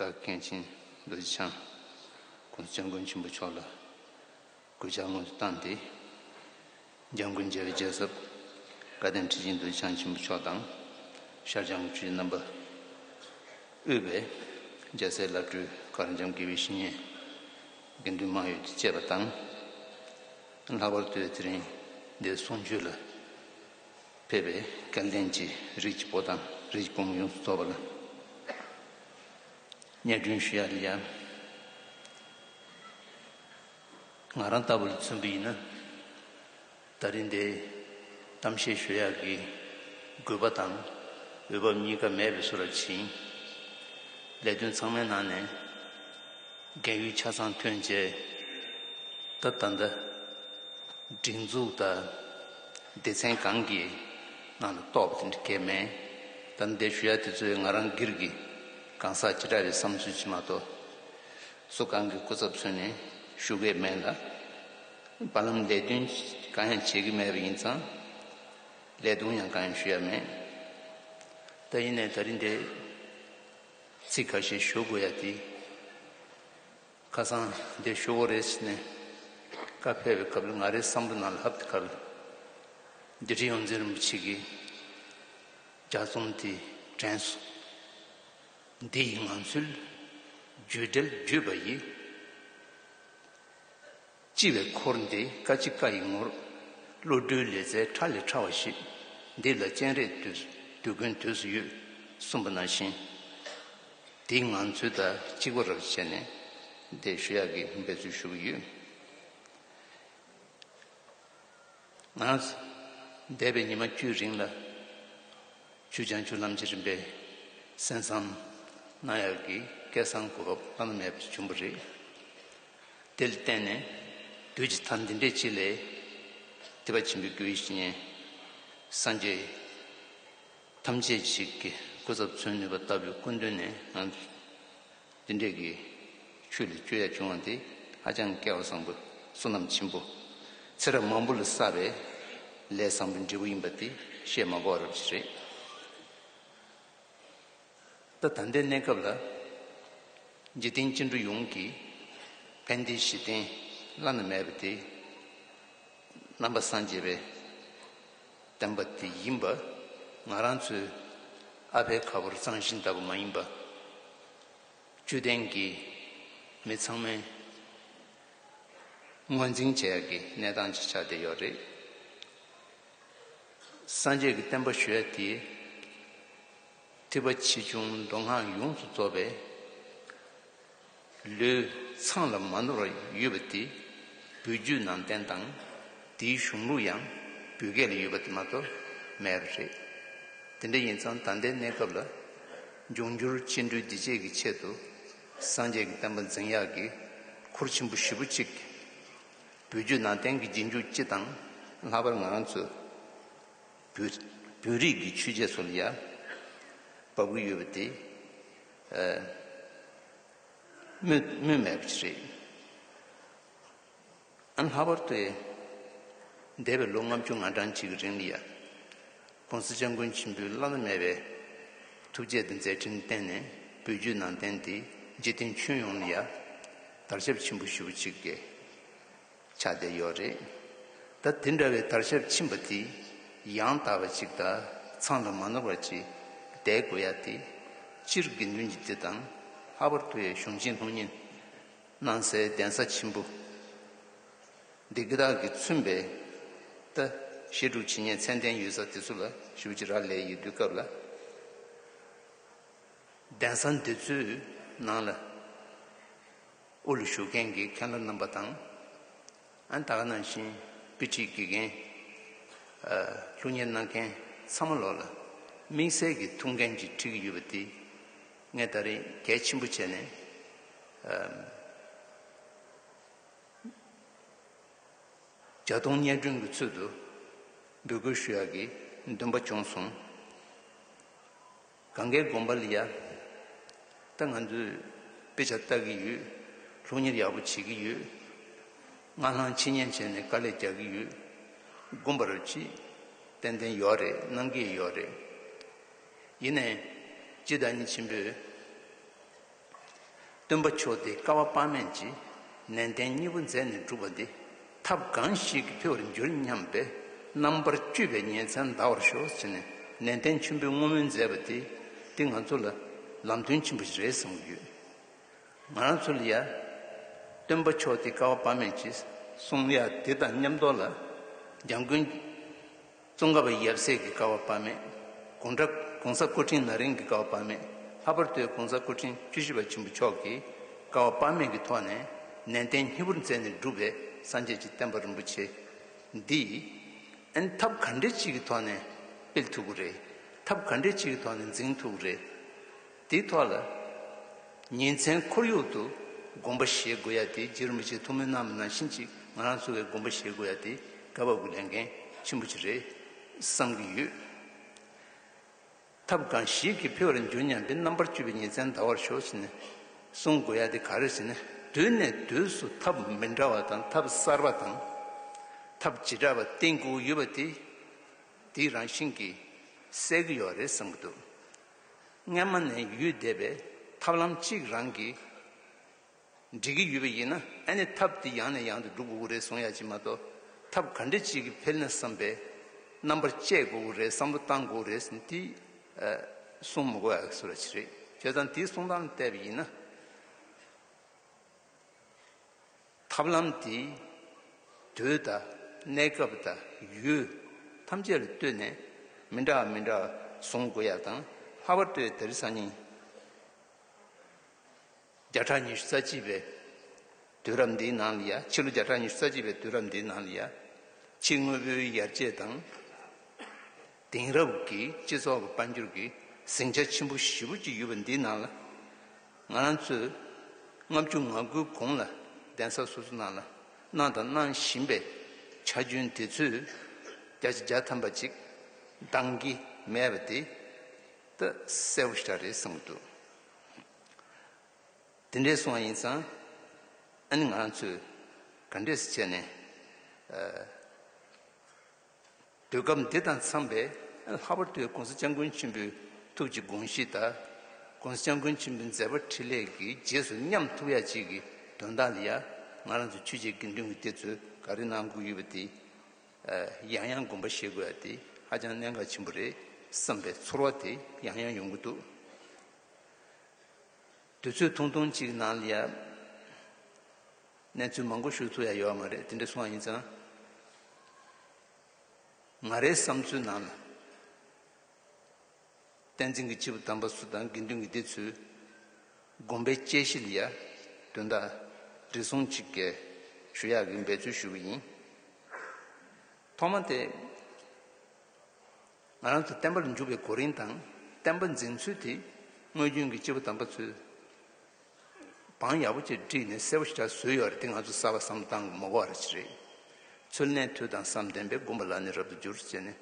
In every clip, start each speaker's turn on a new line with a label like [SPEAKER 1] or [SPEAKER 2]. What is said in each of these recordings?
[SPEAKER 1] བདག་གིས་གངས་ཅན་རྡོ་རྗེ་འཆང་ཁོང་བཙན་མགོན་ཆེན་པོ་མཆོག་ལ་གུས་ཕྱག་སྔོན་དུ་བཏང་སྟེ། འཇང་དགུན་རྒྱལ་རྗེ་ཟབ་བཀའ་བསྟན་ཁྲི་སྦྱིན་རྡོ་རྗེ་འཆང་ཆེན་པོ་མཆོག་དང། ཤར་བྱང་གི་ཆོས་རྗེ་རྣམ་པ་དབུས་པའི་རྒྱལ་སྲས་བླ་སྤྲུལ་གར་འཆམ་དགེ་བའི་བཤེས་གཉེན་དགེ་འདུན་མང་ཡོད་ཀྱིས་བཅས་པ་དང། ལྷག་པར་དུ་དེ་རིང་འདིར་གསུང་ཆོས་ལ། ཕལ་པའི་སྐལ་ལྡན་གྱི་རིགས་ཀྱི་བུ་དང་རིགས་ཀྱི་བུ་མོ་ཡོངས་སུ་རྫོགས་པ་ལ་གཉེར་སྐྱོང་ཞུ་ཡ་རེད་ཡ། ང་རང་ལྟ་བུ་ལ་མཚོན་གྱི་ཡིན་ན་ད་རིང་འདིར་གཏམ་བཤད་ཞུ་ཡ་གི་དགོས་པ་དང་འོས་བབ་གཉིས་ཀ་མེད་པའི་སུ་ར་བྱིན། ལས་དོན་ཚང་མའི་ནང་ནས་འགན་ཡུལ་ཆ་ཚང་ཐོན་རྗེས་ད་ལྟ་འདི་སྒྲིག་འཛུགས་དང། སྡེ་ཚན་གང་གིས་ང་ལ་གཏོགས་པ་དེ་འདྲ་སྐྱེས་མེད། སྟབས་བདེ་ཞུ་ཡ་དེ་ཚོས་ང་རང་སྒེར་གྱི་གང་ཟག་ཅི་འདྲ་རེད་བསམ་ཚོད་བྱེད་མ་གཏོགས། སུ་གང་གི་སྐུ་ཚབ་ཚུན་ནས་ཞུ་གི་མེད་ལ། བར་ལམ་ལས་དོན་གང་ཡང་བྱེད་ཀྱི་མེད་པ་ཡིན་ཙང། ལས་དོན་ཡང་གང་ཡང་ཞུ་ཡ་མེད། ད་ཡིན་ནས་ད་རིན་དེ། ཚིག་ག་ཤེད་ཞུ་དགོས་ཡ་དེ། ཁ་སང་འདི་ཤོ་བོ་རེས་ནས་བཀའ་ཕེབས་པའི་སྐབས་ལ་ང་རའི་བསམ་བློ་ནང་ལྷབ་དེ་ག་ལ། འདི་ཀྲི་ཡོངས་འཛིན་རིན་པོ་ཆེ་གིས་རྒྱ་རྩོམ་དེ་དྲན་སོང། འདི་ཡི་ངང་ཚུལ་བརྒྱུད་འགྲེལ་བརྒྱུད་པ་ཡིས། ལྕི་བའི་འཁོར་འདི་བཀའ་ལྕི་བཀའ་ཡི་ངོར། བློ་གྲོས་ལས་རྩལ་ཕྲ་ལས་ཕྲ་བ་ཞིག། འདི་ལ་སྤྱན་རས་དུས་སྡུག་ཀུན་དུས་སུ་ཡོད། གསུངས་པ་ན་བཞིན་འདིའི་ངང་ཚུལ་དང་གཅིག་པ་རབ་བྱས་ནས་འདི་ཞུ་ཡག་གི་འབད་རྩོལ་ཞུ་གི་ཡོད། ང་འདས་པའི་ཉི་མ་བཅུའི་རིང་ལ་ཆུ་བྱང་ཆུ་ལམ་གྱི་རིམ་པས་གསན་བསམ་གནང་ཡག་གི་སྐལ་བཟང་གོ་བབ་བླ་ན་མེད་པ་བྱུང་བ་རེད། དེ་ལ་བརྟེན་ནས་བདུད་ཀྱི་མཐའ་འདི་འདྲའི་ཆེ་ལས། དད་པ་ཆེན་པོའི་རྒྱུ་ཡིས་བསྙེན། སངས་རྒྱས་ཐམས་ཅད་ཅིག་གི་སྐུ་ཚབ་མཚོན་ནུས་པ་ལྟ་བུའི་སྐུ་མདུན་ནས་ངང་འདི་འདྲས་ཀྱི་ཆོས་ལས་སྤྱོད་ཡ་བྱུང་བ་འདི་ཧ་ཅང་སྐལ་བ་བཟང་པོའི་བསོད་ནམས་ཆེན་པོ་ཚེ་རབས་མང་པོ་ལ་བསགས་པའི་ལས་བཟང་པོའི་འབྲས་བུ་ཡིན་པ་འདི་བཤད་མ་དགོས་པ་རབ་ཅིག་རེད། ད་ལྟའི་གནས་སྐབས་ལ། འཇིག་རྟེན་སྐྱེ་འགྲོ་ཡོངས་ཀྱི། ཕན་བདེའི་གཞི་རྟེན་བླ་ན་མེད་པ་དེ། རྣམ་པ་སངས་རྒྱས་པའི་བསྟན་པ་དེ་ཡིན་པ། ང་རང་ཚོའི་ཨ་ཕའི་ཁ་ཕོར་གཙང་ཞིང་དག་པ་མ་ཡིན་པ། དཔྱོད་ལྡན་གྱི་མི་ཚང་མའི་ངོས་འཛིན་བྱེད་ཡག་གི་གནས་སྟངས་ཅིག་ཆགས་བསྡད་ཡོད་རེད། སངས་རྒྱས་ཀྱི་བསྟན་པ་ཞུ་ཡ་དེ། ཐུབ་པ་ཆེ་ཆུང་མདོ་སྔགས་ཡོངས་སུ་རྫོགས་པའི། ལུས་འཚངས་ལ་མ་ནོར་བར་ཡོད་པ་དེ། བོད་བརྒྱུད་ནང་བསྟན་དང་དེའི་གཞུང་ལུགས་ཡང་བོད་སྐད་ལ་ཡོད་པ་དེ་མ་གཏོགས་མེད་པ་རེད། དེ་འདྲ་ཡིན་ཙང་ད་ལྟའི་གནས་སྐབས་ལ། འབྱུང་འགྱུར་སྤྱི་འགྲོས་བདེ་སྐྱིད་ཀྱི་ཆེད་དུ། སངས་རྒྱས་ཀྱི་བསྟན་པ་འཛིན་ཡག་གི་ཁུར་ཆེན་པོ་ཞེ་པོ་གཅིག། བོད་བརྒྱུད་ནང་བསྟན་གྱི་རྗེས་འཇུག་སྤྱི་དང་ལྷག་པར་ང་རང་ཚོའི། བོད་རིགས་ཀྱི་ཆོས་བྱེད་ཚོ་ལ་ཡང་འབབ་ཀྱི་ཡོད་པ་དེ་སྨོས་མེད་པ་ཞིག་རེད། ཨ་ལྷག་པར་དུ་འདས་པའི་ལོ་ལྔ་བཅུ་ང་གྲངས་གཅིག་གི་རིང་ལ་ཡང ྋགོང་ས ྋསྐྱབས་མགོན་ཆེན་པོའི་བླ་ན་མེད་པའི་ཐུགས་བསྐྱེད་དང་མཛད་འཕྲིན་བརྟེན་ནས་བོད་བརྒྱུད་ནང་བསྟན་དེ་འཇིག་རྟེན་ཁྱོན་ཡོངས་ལ་ཡང་དར་ཁྱབ་ཆེན་པོ་ཞུ་བ་ཅིག་རེད། ཆ་དེ་ཡོད་རེད། ད་དེ་འདྲ་བའི་དར་ཞབས་ཕྱིན་པ་དེ་ཡང་དག་པ་ཅིག་དག་ཚང་དུ་མ་ནོར་བ་ཅིག་བསྡད་དགོས་ཡ་དེ་སྤྱིར་དགེ་འདུན་གྱི་དེ་དང་ལྷག་པར་དུ་ཡའི་གཞུང་ཆེན་ལྷུང་ཉེན་གནང་སའི་གདན་ས་ཆེན་པོ་འདི་དགེ་དག་གིས་མཚོན་པའི་ལྟ་བཤེར་སྒྲུབ་བྱེད་ཉེན་ཚན་ལྡན་ཡོད་ས་དེ་ཚོ་ལ་ཞུ་ཅི་ར་ལས་ཡོད་དུས་སྐབས་ལ་གདན་ས་འདི་ཚོའི་ནང་ལ་དབུ་ལ་བཞུགས་མཁན་གྱི་མཁན་སློབ་རྣམ་པ་དང། ད་ག་ནང་བཞིན་དཔེ་ཁྲིད་དགེ་རྒན། ལྷུག་བརྙན་གནང་མཁན་ཚང་མ་ལོག་ལ་དམིགས་བསལ་གྱི་ཐུགས་འགན་ཅིག་ཁྲིད་ཀྱི་ཡོད་པ་འདི། ངས་ད་རེས་གལ་ཆེན་པོ་བྱས་ནས། བརྒྱ་སྟོང་སྙན་སྒྲོན་གྱི་ཚུལ་དུ་འབོད་སྐུལ་ཞུ་ཡག་གི་འདུན་པ་བྱུང་སོང། གངྒཱའི་དགོན་པ་ལི་ཡ། ད་ང་ཚོས་དཔེ་ཆ་བལྟ་གི་ཡོད། ལྷུག་གཉེར་ཡག་པོ་བྱེད་ཀྱི་ཡོད། སྔར་ལྷང་ཕྱི་ཉན་བྱས་ནས་དཀའ་ལས་རྒྱག་གི་ཡོད། དགོན་པ་རུ་ཅིག། ཏན་ཏན་ཡོད་རེད་གནང་གི་ཡོད་རེད། ཡིན་ནའི། སྤྱི་བདག་ཉིད་ཆེན་པོས། སྟོན་པ་མཆོག་སྟེ་བསྐལ་བ་དཔག་མེད་ཀྱིས་ནན་ཏན་གཉིས་པོ་མཛད་ནས་བསྒྲུབས་པ་འདི་ཐབས་གང་ཞིག་གིས་འཕེལ་བར་འགྱུར་སྙམ་པས་རྣམ་པར་དཀྱུས་པའི་ཉིན་མཚན་འདའ་བར་ཤོག་ཟེར་ནས་ནན་ཏན་ཆེན་པོའི་བསྔོ་སྨོན་མཛད་པ་དེ་འདི་ང་ཚོ་ལ་ལམ་སྟོན་ཆེན་པོ་རེད་བསམ་གྱི་ཡོད། ང་རང་ཚོ་ལ་ཡང། སྟོན་པ་མཆོག་སྟེ་བསྐལ་བ་དཔག་མེད་ཀྱིས་གསུང་དབྱངས་འདི་དང་མཉམ་རྡོ་ལ། འཇམ་མགོན། ཙོང་ཁ་བ་ཡབ་སྲས་ཀྱི་ཀ་བ་པདྨས་དགུང་གྲགས་གོང་ས་སྐུ་ཕྲེང་ན་རིང་གི་ཀ་བ་པདྨས་ལྷག་པར་དུ་གོང་ས་སྐུ་ཕྲེང་བཅུ་བཞི་པ་ཆེན་པོ་མཆོག་གིས་ཀ་བ་པདྨས་ཀྱི་ཐོག་ནས་ནན་ཏན་སྙིང་བོར་མཛད་ནས་བསྒྲུབས་པའི་སངས་རྒྱས་ཀྱི་བསྟན་པ་རིན་པོ་ཆེ་འདིས། ཐབས་ག་འདྲེ་ཅིག་གི་ཐོག་ནས་སྤེལ་ཐུབ་ཀྱི་རེད། ཐབས་ག་འདྲེ་ཅིག་གི་ཐོག་ནས་འཛིན་ཐུབ་ཀྱི་རེད། དེའི་ཐོག་ལ། ཉིན་མཚན་ཁོར་ཡུག་ཏུ་དགོངས་པ་བཞེས་དགོས་ཡ་དེ་རྗེ་རིན་པོ་ཆེ་ཐུགས་མོས་གནང་མི་གནང་ཕྱིན་ཅི་ང་རང་ཚོ་བས་དགོངས་པ་བཞེས་དགོས་ཡ་དེ་སྐལ་བ་དགུ་ལས་འགན་ཆེན་པོ་ཅིག་རེད་བསམ་གྱི་ཡོད། ཐབས་གང་ཞིག་གིས་འཕེལ་བར་འགྱུར་སྙམ་པའི་རྣམ་པར་དཔྱོད་པའི་ཉིན་མཚན་འདའ་བར་ཤོག་ཅེས་ནས་གསུང་དགོས་ཡ་དེ་ག་རེ་ཞེ་ན་དུས་ནས་དུས་སུ་ཐབས་མི་འདྲ་བ་དང་ཐབས་གསར་པ་དང། ཐབས་བྱེ་བྲག་པ་བསྟེན་དགོས་ཀྱི་ཡོད་པ་དེ་དེའི་རང་བཞིན་གྱིས་གསལ་གྱི་ཡོད་རེད་བསམ་གྱི་འདུག་སྔ་མ་ནས་ཡུལ་བསྡད་པའི་ཐབས་ལམ་གཅིག་རང་གིས་འགྲིག་གི་ཡོད་པ་ཡིན་ན་ཨ་ནི་ཐབས་དེ་ཡང་ནས་ཡང་དུ་སྒྲུབ་དགོས་ཀྱི་རེད་གསུང་ཡ་གཅིག་མ་གཏོགས་ཐབས་ག་འདྲི་གཅིག་གིས་འཕེལ་ན་བསམ་པའི་རྣམ་པར་དཔྱད་དགོས་ཀྱི་རེད་བསམ་བློ་བཏང་དགོས་ཀྱི་རེད་གསུང་དེ་གསུང་མི་དགོས་ཨ་གསུང་ར་ཅི་རེད་བྱས་ཙང་དེའི་གསུང་སྟངས་ལ་བལྟས་པ་ཡིན་ན། ཐབས་ལམ་འདིས། དུས་དང་གནས་སྐབས་དང་ཡུལ་ཐམས་ཅད་ལ་ལྟོས་ནས་མི་འདྲ་བ་མི་འདྲ་བ་བཟུང་དགོས་ཡག་དང་སླ་བར་ལྟོས་དེར་སང་ཉིན་བརྒྱ་ཕྲག་ཉི་ཤུ་རྩ་གཅིག་པའི་དུས་རབས་འདིའི་ནང་ལ་ཡ་ཕྱི་ལོ་བརྒྱ་ཕྲག་ཉི་ཤུ་རྩ་གཅིག་པའི་དུས་རབས་འདིའི་ནང་ལ་ཡ་ཕྱི་དངོས་པོའི་ཡར་རྒྱས་དང། དེང་རབས་ཀྱི་སྤྱི་ཚོགས་ཀྱི་དཔལ་འབྱོར་གྱི་ཟིང་ཆ་ཆེན་པོ་བཞི་བོ་གཅིག་ཡོད་པ་འདིའི་ནང་ལ། ང་རང་ཚོས་ལྔ་བཅུ་ང་དགུའི་གོང་ལ་གདན་ས་སོ་སོ་ནང་ལ་གནང་དང་གནང་བཞིན་པའི་ཆ་རྒྱུན་དེ་ཚོས་བརྒྱ་ཆ་བརྒྱ་ཐམ་པ་ཅིག་འདང་གི་མེད་པ་དེ་ད་གསལ་བོ་ཤར་རེད་བསམ་གྱི་འདུག་དེ་འདྲའི་སོང་བ་ཡིན་ཙང་ཨ་ནི་ང་རང་ཚོས་ག་འདྲས་སུ་བྱས་ནས། དུས་སྐབས་འདི་དང་འཚམས་པའི་ལྷག་པར་དུ་གོང་ས་སྤྱང་ཀུན་ཆེན་པོའི་ཐུགས་ཀྱི་དགོངས་གཞི་དང། གོང་ས་སྤྱང་ཀུན་ཆེན་པོའི་མཛད་པ་འཕྲིན་ལས་ཀྱི་རྗེས་སུ་མཉམ་ཐུགས་ཡ་གཅིག་གི་དོན་དག་ལ་ཡང་ང་རང་ཚོ་ཆོས་བྱེད་དགེ་འདུན་གྱི་དེ་ཚོས་ག་རེ་གནང་དགོས་ཡོད་པ་དེ་ཡང་ཡང་དགོངས་པ་བཞེས་དགོས་ཡ་དེ་ཧ་ཅང་གནད་འགག་ཆེན་པོ་རེད་བསམ་པའི་ཚོར་བ་དེ་ཡང་ཡང་ཡོང་གི་འདུག་དུས་ཚོད་ཐུང་ཐུང་གཅིག་གི་ནང་ལ་ཡང། གནས་ཚུལ་མང་པོ་ཞུ་ཐུབ་ཡ་ཡོད་མ་རེད་དེ་འདྲ་སོང་བ་ཡིན་ཙང། ང་རའི་བསམ་ཚུལ་ནང་ལ། བསྟན་འཛིན་གྱི་སྤྱི་བོ་དམ་པ་སུ་དང་དགེ་འདུན་གྱི་སྡེ་ཚུལ་སྒོམ་པའི་དཔྱད་གཞི་ལ་ཡ་དོན་དག་འདྲི་སོང་ཅིག་གས་ཞུ་ཡག་གི་འབད་ཚུལ་ཞུ་གི་ཡིན། ཐོག་མ་དེ། ང་རང་ཚོ་བསྟན་པ་ལ་འཇུག་པའི་གོ་རིམ་དང་བསྟན་པ་འཛིན་ཚུལ་དེ་དངོས་རྒྱུན་གྱི་སྤྱི་བོ་དམ་པ་ཚུལ། བང་ཡག་པོ་གཅིག་བསྒྲིགས་ནས་གསལ་པོ་ཞིག་དྲ་བཟོས་ཡོད་རེད་དེ་ང་ཚོ་གསར་བ་བསམ་བཏང་གི་མོ་གོ་བ་རེད་ཅི་རེད། ཚུར་གནས་མཐུ་དང་བསམ་བདེན་པའི་དགོན་པ་ལ་ནི་རབ་ཏུ་འགྱུར་ཅེས་ནས།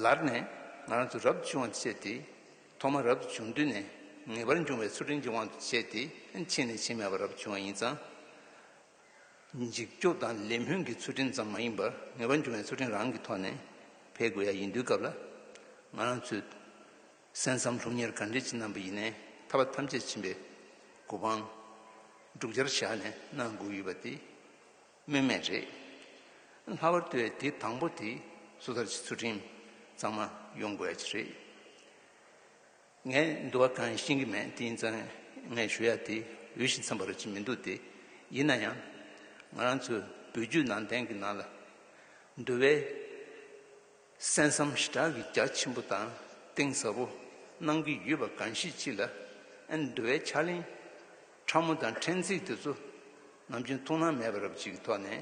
[SPEAKER 1] ལར་ནས་ང་རང་ཚོ་རབ་ཏུ་བྱུང་བ་ཆེ་སྟེ། ཐོག་མར་རབ་ཏུ་བྱུང་དུས་ནས་ངེས་པར་འབྱུང་བའི་ཚུལ་ཁྲིམས་ཀྱི་དབང་དུ་བྱས་ཏེ་ཕྱིན་ནས་ཕྱིན་མེད་པར་རབ་ཏུ་བྱུང་བ་ཡིན་ཙང། འཇིགས་སྐྱོབ་དང་ལས་སྨོན་གྱི་ཚུལ་ཁྲིམས་ཙམ་མ་ཡིན་པར་ངེས་པར་འབྱུང་བའི་ཚུལ་ཁྲིམས་རང་གི་ཐོག་ནས་འཕེལ་དགོས་ཡ་ཡིན་དུས་སྐབས་ལ་ང་རང་ཚོས་གསན་བསམ་ལྷུག་གཉེར་གར་འགྲེལ་གྱི་རྣམ་པ་ཡིས་ནི་ཐར་པ་ཐམས་ཅད་ཕྱིན་པའི་གོ་འཕང། འབྲུག་སྦྱར་བཞག་ནས་གནང་དགོས་ཡོད་པ་དེ་སྨོས་མེད་རེད། ལྷག་པར་དུ་བས་དེ་དང་པོ་དེ་སོ་ཐར་གྱི་ཚུལ་ཁྲིམས་གཙང་མ་ཡོང་དགོས་ཡ་གྱི་རེད། ངས་འདུལ་བ་གང་ཡང་ཤེས་ཀྱི་མེད་དེ་ཡིན་ཙང་ངས་ཞུ་ཡ་དེ་འོས་ཤིང་འཚམས་པ་རག་གི་མི་འདུག་དེ་ཡིན་ན་ཡང་ང་རང་ཚོའི་བོད་བརྒྱུད་ནང་བསྟན་གྱི་ནང་ལ་འདུལ་བའི་གསན་བསམ་ཞི་དྲག་གི་རྒྱ་ཆེན་པོ་དང་གཏིང་ཟབ་པོ་གནང་གི་ཡོད་པ་གང་ཤེས་ཅི་ལ་ཨེ་འདུ་བའི་ཕྱག་ལེན་ཕྲ་མོ་དང་ཕྲན་ཚེགས་དེ་ཚོ་ནམ་རྒྱུན་ཐུགས་སྣང་མེད་པ་རབ་བྱེད་ཀྱི་ཐོག་ནས་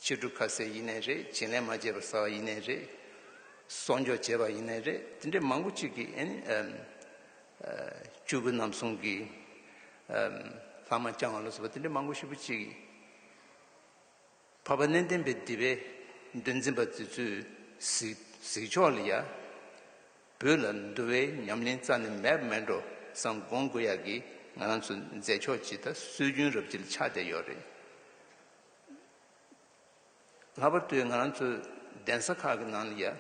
[SPEAKER 1] ཕྱི་དྲོ་ཁ་ཟས་ཡེ་ནས་རེད་བྱིན་ལེན་མ་བྱས་པར་ཟ་བ་ཡེ་ནས་རེད་གསོག་འཇོག་བྱས་པ་ཡེ་ནས་རེད་དེ་འདྲའི་མང་པོ་གཅིག་གིས་ཨེ་ནི་ཨེ་བཅུ་དགུ་ནམ་གསུམ་གྱི་ལྷག་མ་བསྐྱང་བ་ལ་སོགས་པ་དེ་འདྲའི་མང་པོ་ཞིག་པོ་གཅིག་གིས། བར་པ་གནས་བརྟན་པའི་སྡེ་པའི་འདུལ་འཛིན་པ་དེ་ཚོས་གཟིགས་ཕྱོགས་ལ་ཡ། བོད་ལ་འདུལ་བའི་ཉམས་ལེན་རྩ་ནས་མེད་པ་མེད་འགྲོ་བསམ་དགོངས་དགོས་ཡག་གི་ང་རང་ཚོ་མཛད་ཕྱོགས་ཇི་ལྟ་སྲོལ་རྒྱུན་རབ་བརྗིད་ཆགས་བསྡད་ཡོད་རེད། ལྷག་པར་དུ་ང་རང་ཚོ་གདན་ས་ཁག་གི་ནང་ལ་ཡ།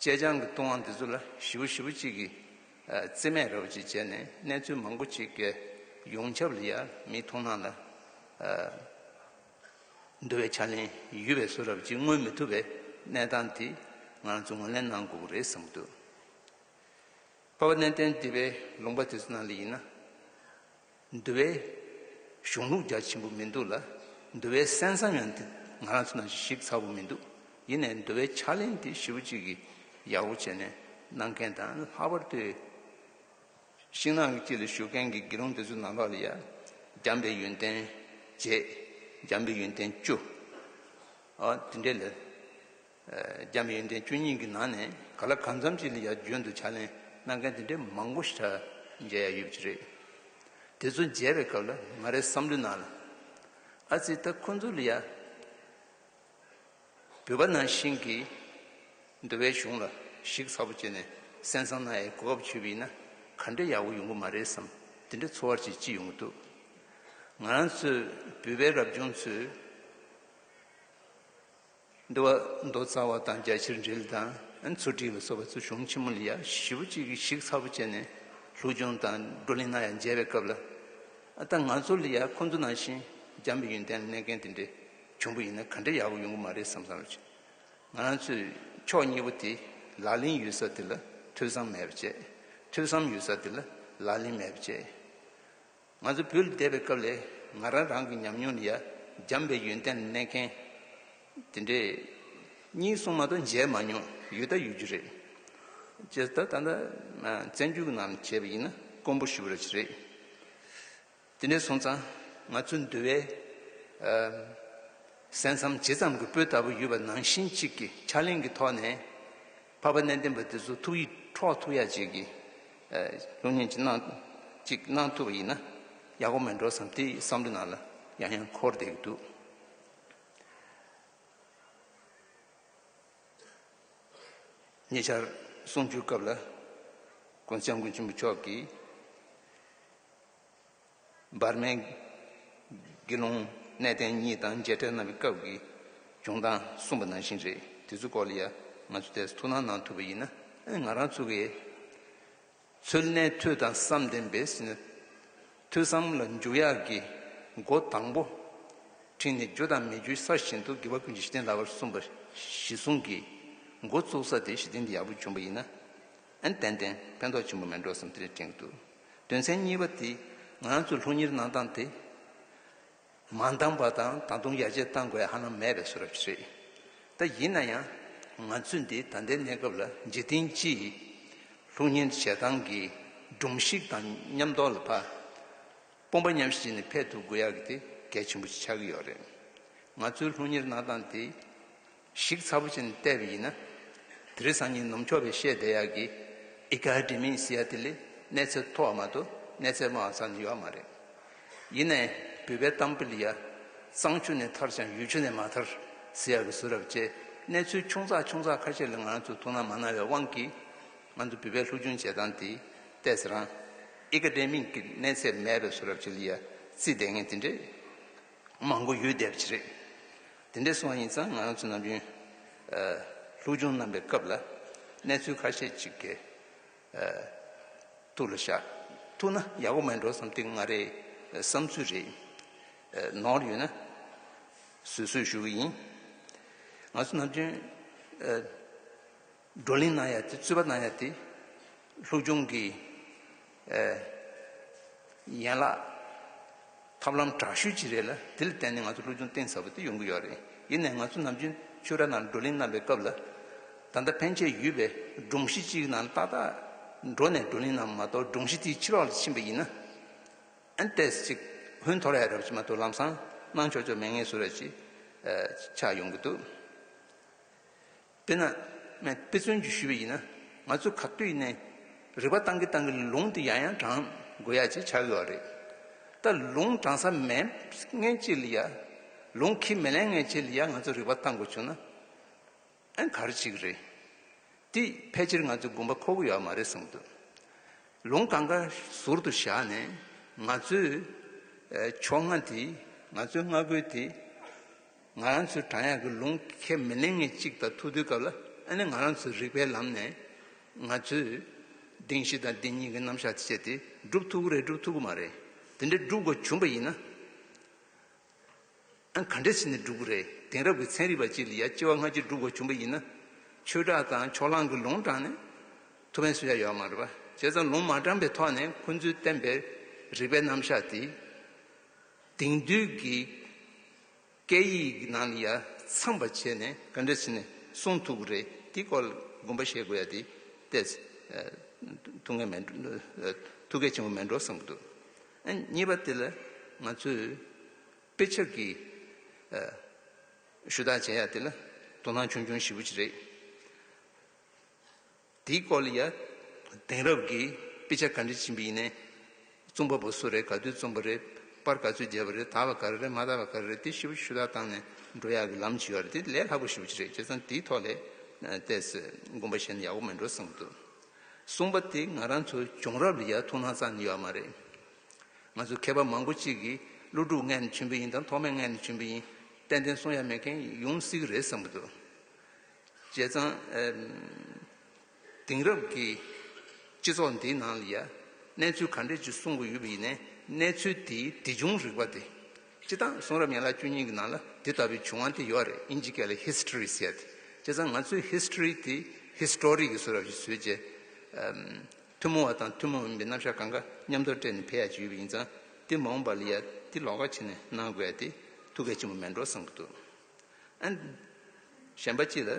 [SPEAKER 1] ཅེ་སྤྱང་གི་ལྟུང་བ་འདི་ཚོ་ལ་བཞི་བོ་བཞི་བོ་གཅིག་གིས་རྩིས་མེད་རེ་བ་ཅིག་བྱས་ནས་གནས་ཚུལ་མང་པོ་ཅིག་གི་ཡོངས་ཁྱབ་ལ་ཡང་མི་མཐོང་སྣང་ལ་འདུ་བའི་ཕྱག་ལེན་ཡུལ་བའི་སོ་རབ་ཅིག་མངོན་མི་ཐུབ་པའི་གནས་སྟངས་དེ་ང་ཚོ་ངོས་ལེན་གནང་དགོས་པ་རེད་བསམ་གྱི་འདུག་པར་བ་གནས་བརྟན་སྡིག་པའི་ལུང་པ་དེ་ཚོ་ནང་ལ་ཡིན་ན། འདུལ་བའི་གཞུང་ལུགས་རྒྱ་ཆེན་པོ་མི་འདུག་ལ། འདུལ་བའི་གསན་བསམ་ཡང་དེ་ང་རང་ཚོ་ནང་བཞིན་ཞིབ་ཚགས་པོ་མི་འདུག་ཡིན་ནའི་འདུལ་བའི་ཕྱག་ལེན་དེ་ཞིབ་པོ་གཅིག་གིས་ཡག་པོ་བྱས་ནས་གནང་མཁན་དང་ལྷག་པར་དུ་ཤིང་ནགས་ཀྱི་དཀྱིལ་ལ་བཞུགས་མཁན་གྱི་དགེ་སློང་དེ་ཚོའི་ནང་ལོགས་ལ་ཡང་འཇམ་པའི་ཡོན་ཏན་བརྒྱད། འཇམ་པའི་ཡོན་ཏན་བཅུ། འོ་དེ་འདྲའི་ལས། རྒྱ་མི་ཡོན་ཏན་བཅུ་གཉིས་ཀྱི་ནང་ནས་ག་ལ་གང་འཚམས་ཅིག་ལ་ཡར་བརྗོད་འདུག་ཕྱག་ལེན་གནང་མཁན་དེ་འདྲའི་མང་པོ་ཞིག་གྲྭ་མཇལ་ཡ་ཡོད་པ་ཅི་རེད། དེ་ཚོ་མཇལ་བའི་སྐབས་ལ་ང་རེ་བསམ་བློའི་ནང་ལ། ཨ་ཙི་ད་ཁོ་ཚོ་ལ་ཡར་བོད་པ་ནང་བཞིན་གྱི་འདུལ་བའི་གཞུང་ལ་གཞིགས་ཚ་པོ་བྱས་ནས་གསན་བསམ་གནང་ཡའི་གོ་སྐབས་འཆུས་པ་ཡིན་ན་ག་འདྲའི་ཡག་པོ་ཡོང་གི་མ་རེད་བསམ་དེ་འདྲའི་འཚོ་བར་ཅིག་ཅི་ཡོང་གི་འདུག་ང་རང་ཚོའི་བོད་པའི་རབ་བྱུང་ཚོས། འདུལ་བ་མདོ་རྩ་བ་དང་རྒྱ་ཆེར་འགྲེལ་དང་མཚོ་བྲིས་ལ་སོགས་པ་གཙོ་གཞུང་ཆེན་མོ་ལ་ཡ་བཞི་བོ་གཅིག་གིས་ཤིག་ཚ་བོ་བྱས་ནས་ལྷུག་སྦྱོང་དང་བགྲོ་གླེང་གནང་ཡ་མཇལ་བའི་སྐབས་ལ་ད་ང་ཚོ་ལ་ཡ་ཁོང་ཚོ་ནང་བཞིན་འཇམ་པའི་ཡོན་ཏན་གནས་མཁན་དེ་འདྲའི་གྱོང་པོ་ཡིན་ན་ག་འདྲ་ཡག་པོ་ཡོང་གི་མ་རེད་བསམ་བསམ་བྱས། ང་རང་ཚོས་ཕྱོགས་གཉིས་པོ་དེ་ལག་ལེན་ཡོད་ས་དེ་ལ་ཐོས་བསམ་མེད་པ་བྱས། ཐོས་བསམ་ཡོད་ས་དེ་ལ་ལག་ལེན་མེད་པ་བྱས། ང་ཚོ་བོད་ལ་བསྡད་པའི་སྐབས་ལས་ང་རང་རང་གི་ཉམས་མྱོང་ནི་ཡ་འཇམ་པའི་ཡོན་ཏན་ལ་གནས་མཁན་དེ་འདྲས། གཉིས་གསུམ་མ་གཏོགས་མཇལ་མ་མྱོང། ཡོད་ད་ཡོད་རྒྱུ་རེད། ཅེས་ད་ལྟ་བཙན་བྱོལ་གྱི་ནང་ལ་བྱས་པ་ཡིན་ན་དཀོན་པོ་ཞུ་རེད། དེ་འདྲས་སོང་ཙང་ང་ཚོའི་འདུལ་བའི་གསན་བསམ་ཇི་ཙམ་གྱི་སྤོས་ལྟ་བུ་ཡོད་པ་ནང་བཞིན་གཅིག་གི་ཕྱག་ལེན་གྱི་ཐོག་ནས། འཕགས་པ་གནས་བརྟན་པ་དེ་ཚོ་ཐུགས་ཡིད་འཕྲོག་ཐུབ་ཡག་ཅིག་གི། གཞུང་བསྙེན་ཅིག་གནང་ཅིག་གནང་ཐུབ་པ་ཡིན་ན་ཡག་པོ་མེད་འགྲོ་བསམ་དེའི་བསམ་བློ་ནང་ལ་ཡང་ཡང་འཁོར་བསྡད་ཀྱི་འདུག། ཉེ་ཆར་གསུང་ཆོས་སྐབས་ལ་དགོན་སྐྱབས་མགོན་ཆེན་པོ་མཆོག་གིས། འབར་མའི་དགེ་སློང་གནས་བརྟན་གཉིས་དང་མཇལ་འཕྲད་གནང་བའི་སྐབས་ཀྱི་བྱུང་སྟངས་གསུངས་པ་ནང་བཞིན་རེད་དེ་ཚོའི་སྐོར་ལ་ཡང་ང་ཚོས་དེར་ཐུགས་སྣང་གནང་ཐུབ་པ་ཡིན་ན་ང་རང་ཚོ་གས་ཚོད་གནས་མཐུ་དང་བསམ་ལྡན་པའི་སེམས་ནས་ཐོས་བསམ་ལ་འཇུག་ཡག་གི་སྒོ་དང་པོ་ཕྲིན་ལས་རྒྱུ་དང་མི་རྒྱུའི་ས་བཞིན་དུ་དགེ་བ་ཀུན་གྱི་གཞི་རྟེན་ལགས་པར་གསུངས་པ་གཞི་བཟུང་གི་འགོ་བཙུགས་ས་དེ་གཞི་རྟེན་དེ་ཡག་པོ་བྱུང་བ་ཡིན་ན་ཏན་ཏན་ཕན་ཐོགས་ཆེན་པོ་མེད་འགྲོ་བསམ་ཏེ་དྲན་གྱི་འདུག། དོན་ཚན་གཉིས་པ་དེ་ང་ཚོས་ལྷུག་གཉེར་གནང་སྟངས་དེ་མ་འདང་པ་དང་ད་དུང་ཡར་རྒྱས་གཏང་དགོས་ཧ་ལམ་མེད་པའི་བཟོ་རབས་ཤིག་རེད། ད་ཡིན་ན་ཡང་ང་ཚོས་འདི་ད་ལྟའི་གནས་སྐབས་ལ་འཇིག་རྟེན་སྤྱི་ཡི་ལྷུག་གཉེར་བྱེད་སྟངས་ཀྱི་སྒྲོམ་གཞིག་དང་མཉམ་རྟོགས་ལ་དཔོན་པོ་མཉམ་ཞིག་ནས་ཕེབས་ཐུབ་དགོས་ཡག་གི་དེ་གལ་ཆེན་པོ་ཆགས་ཀྱི་ཡོད་རེད། ང་ཚོས་ལྷུག་གཉེར་གནང་སྟངས་དེ། ཞིག་ཚ་པོ་ཆེན་བལྟས་པ་ཡིན་ན། དེ་རིང་སང་ཉིན་ནུབ་ཕྱོགས་པའི་ཤེས་ལྡན་ཡག་གི་ཨི་ཀ་ཧི་ཏི་མིའི་སི་ཡ་ཐི་ལི་གནས་ཚད་མཐོ་བ་མ་གཏོགས་གནས་ཚད་དམའ་བ་ཙམ་ནི་ཡོད་མ་རེད། ཡིན་ནའི་བུད་པའི་གཏམ་དཔེ་ལ་ཡ། གཙང་ཆུ་ནས་ཐར་ཅང་ཡུལ་ཆུ་ནས་མ་ཐར་ཟེར་ཡག་གི་བཟོ་རབས་བཅས་གནས་ཚུལ་ཆུང་ཚགས་ཆུང་ཚགས་ཁ་ཤས་ལ་ང་རང་ཚོས་ཐུགས་སྣང་མ་གནང་བའི་དབང་གིས། ང་ཚོ་བུད་པའི་ལྷུག་ཆུང་བྱེད་སྟངས་དེས་བལྟས་ཚེ་རང་ཨི་ཀ་ཏྲེ་མིང་གི་གནས་ཚད་མེད་པའི་བཟོ་རབས་བྱེད་ལ་ཡ་རྩིས་ལྡན་ངེས་དེ་འདྲས། མང་པོ་ཡོད་བསྡད་པ་ཞིག་རེད། དེ་འདྲའི་སོང་བ་ཡིན་ཙང་ང་རང་ཚོ་ནམ་རྒྱུན། ལྷུག་སྦྱོང་གནང་པའི་སྐབས་ལ་གནས་ཚུལ་ཁ་ཤས་ཅིག་གི་ཐུགས་ལ་བཞག་ཐུག་ན་ཡག་པོ་མེད་འགྲོ་བསམ་སྟེ་ང་རེའི་བསམ་ཚུལ་རེད། ནོར་ཡོད་ན་བཟོད་གསོལ་ཞུ་གི་ཡིན། ང་ཚོ་ནམ་རྒྱུན། བགྲོ་གླེང་གནང་ཡ་དེ་རྩོད་པ་གནང་ཡ་དེ། ལྷུག་རྒྱུང་གི། ཡན་ལག། ཐབས་ལམ་དྲག་ཤུལ་གྱི་རེད་ལ་དེ་ལ་བརྟེན་ནས་ང་ཚོ་ལྷུག་རྒྱུང་གཏིང་ཟབ་པོ་དེ་ཡོང་གི་ཡོད་རེད་ཡིན་ནའི་ང་ཚོ་ནམ་རྒྱུན་ཆོས་གྲྭ་ནང་བགྲོ་གླེང་གནང་པའི་སྐབས་ལ། ད་ལྟ་ཕན་ཆད་ཡུལ་བའི་སྒྲོམ་གཞི་གཅིག་གི་ནང་ཏག་ཏག་འགྲོ་ནས་བགྲོ་གླེང་གནང་མ་གཏོགས་སྒྲོམ་གཞི་དེའི་ཕྱི་རོལ་ལ་ཕྱིན་པ་ཡིན་ན། ཨན་ཏེས་ཅིག་ཧུན་འཐོར་ཡ་རབས་ཀྱི་མ་གཏོགས་ལམ་སང་གནང་ཆོག་ཆོག་མེད་ངེས་སུ་རེད་ཅེས་ཆགས་ཡོང་གི་འདུག། དཔེར་ན། དཔེ་མཚོན་གྱིས་ཞུས་པ་ཡིན་ན། ང་ཚོས་ག་དུས་ནས་རིག་པ་བཏང་གིན་བཏང་གིན་ལུང་དེ་ཡང་ཡང་དྲངས་དགོས་ཡ་ཅེས་བྱ་དགོས་བ་རེད། ད་ལུང་དྲངས་ས་མེད་ངེས་ཅི་ལ་ཡ། ལུང་ཁས་མི་ལེན་ངེས་ཅི་ལ་ཡ་ང་ཚོས་རིག་པ་བཏང་དགོས་བྱུང་ན། ག་རེ་ཅིག་རེད། དེས་ཕལ་ཆེར་ང་ཚོས་སྒུམ་པ་ཁོ་གི་ཡོད་མ་རེད་བསམ་འདུག། ལུང་གང་ག་ཟུར་དུ་བཞག་ནས་ང་ཚོས། ཕྱོགས་སྔ་དེ། ང་ཚོའི་སྔ་རྒོལ་དེ། ང་རང་ཚོའི་བྲང་ཡག་གི་ལུང་ཁས་མི་ལེན་ངེས་གཅིག་དང་ཐུག་དུས་སྐབས་ལ་ཨ་ནི་ང་རང་ཚོའི་རིག་པའི་ལམ་ནས་ང་ཚོས་གདེང་བཞི་དང་གདེང་གཉིས་ཀྱི་རྣམ་གཞག་སྤྱད་དེ་སྒྲུབ་ཐུབ་ཀི་རེད་སྒྲུབ་ཐུབ་ཀི་མ་རེད་དེ་འདྲ་སྒྲུབ་དགོས་བྱུང་པ་ཡིན་ན་ཨ་ག་འདྲ་བྱས་ནས་སྒྲུབ་ཀི་རེད་དེང་རབས་ཀྱི་ཚན་རིག་པ་ཅིག་ལ་ཡ་ལྕི་བ་སྔ་ཕྱི་སྒྲུབ་དགོས་བྱུང་པ་ཡིན་ན་ཆོས་གྲགས་དང་ཕྱོགས་གླང་གི་ལུང་དྲངས་ནས་ཐུབ་བན་བཟོ་ཡ་ཡོད་མ་རེད་བྱས་ཙང་ལུང་མ་དྲངས་པའི་ཐོག་ནས་ཁོ་ཚོའི་བསྟན་པའི་རིག་པའི་རྣམ་གཞག་དེ་དེང་དུས་ཀྱི། སྐད་ཡིག་ནང་ལ་ཡ་མཚན་པ་བྱས་ནས་ག་འདྲ་བྱས་ནས་གསུང་ཐུབ་ཀྱི་རེད་དེ་སྐོར་ལ་དགོངས་པ་བཞེས་དགོས་ཡ་དེ་ལྟས་ཐུགས་ངལ་མེད་ཐུགས་གལ་ཆེན་པོ་མེད་འགྲོ་བསམ་གྱི་འདུག་གཉིས་པ་དེ་ལ་ང་ཚོས་དཔེ་ཆབ་ཀྱི་ཞུ་དག་བྱས་ཡ་དེ་ལ་དོ་སྣང་ཆུང་ཆུང་ཞིབ་པོ་ཅིག་རེད། དེའི་སྐོར་ལ་ཡང་དེང་རབས་ཀྱི་དཔེ་ཆ་ག་འདྲས་བྱིན་པ་ཡིན་ནའི། རྩོམ་པ་པོ་སུ་རེད་ག་དུས་རྩོམ་པ་རེད་པར་ག་ཚོད་བརྒྱབ་པ་རེད་དག་པ་ག་རེ་རེད་མ་དག་པ་ག་རེ་རེད་དེ་ཞིབ་ཞུ་དག་བཏང་ནས་འགྲོ་ཡག་གི་ལམ་ཞིག་རེད་དེ་ལས་ལྷག་པ་ཞིབ་ཅིག་རེད་ཁྱེད་ཚང་དེའི་ཐོག་ལས་གཏད་སོད་དགོན་པ་བྱས་ན་ཡག་པོ་མི་འགྲོ་བསམ་གི་འདུག་གསུངས་པ་དེ་ང་རང་ཚོའི་བྱུང་རབས་ལ་ཡང་ཐུགས་སྣང་ཙམ་ནི་ཡོད་མ་རེད། ང་ཚོ་མཁས་པ་མང་པོ་གཅིག་གིས་ཀླུ་སྒྲུབ་མངལ་ནས་བྱོན་པ་ཡིན་དང་ཐོགས་མེད་མངལ་ནས་བྱོན་པ་ཡིན་ཏན་ཏན་གསུང་ཡ་མེད་མཁན་ཡོང་སྲིད་གི་རེད་བསམ་གི་འདུག། བྱས་ཙང། དེང་རབས་ཀྱི་སྤྱི་ཚོགས་འདིའི་ནང་ལ་ཡང་གནས་ཚུལ་ག་འདྲས་ཅིག་གསུང་གི་ཡོད་པ་ཡིན་ནའི་གནས་ཚུལ་དེའི་དེ་བྱུང་རིག་པ་དེ། སྤྱི་བཏང་གསུང་རབ་ཡན་ལག་བཅུ་གཉིས་ཀྱི་ནང་ལ་དེ་ལྟ་བུའི་བྱུང་བ་དེ་ཡོད་རེད་དབྱིན་ཇི་སྐད་ལ History ཟེར་ཏེ། བྱས་ཙང་ང་ཚོས History དེ History གྱི་གསུང་རབ་ཞིག་བཟོས་རྗེས། ཐུན་མོང་བ་དང་ཐུན་མོང་མིན་པའི་རྣམ་གཞག་གང་གཱ་མཉམ་དུ་སྤྲེལ་ནས་འཕེལ་ཡག་ཅིག་ཡོད་པ་ཡིན་ཙང་དེ་མ་འོངས་པ་ལ་ཡང་དེ་ལོགས་ཀ་བྱས་ནས་གནང་དགོས་ཏེ་ཐུགས་གལ་ཆེན་པོ་མེད་འགྲོ་བསམ་གྱི་འདུག། གཞན་པ་གཅིག་ལ་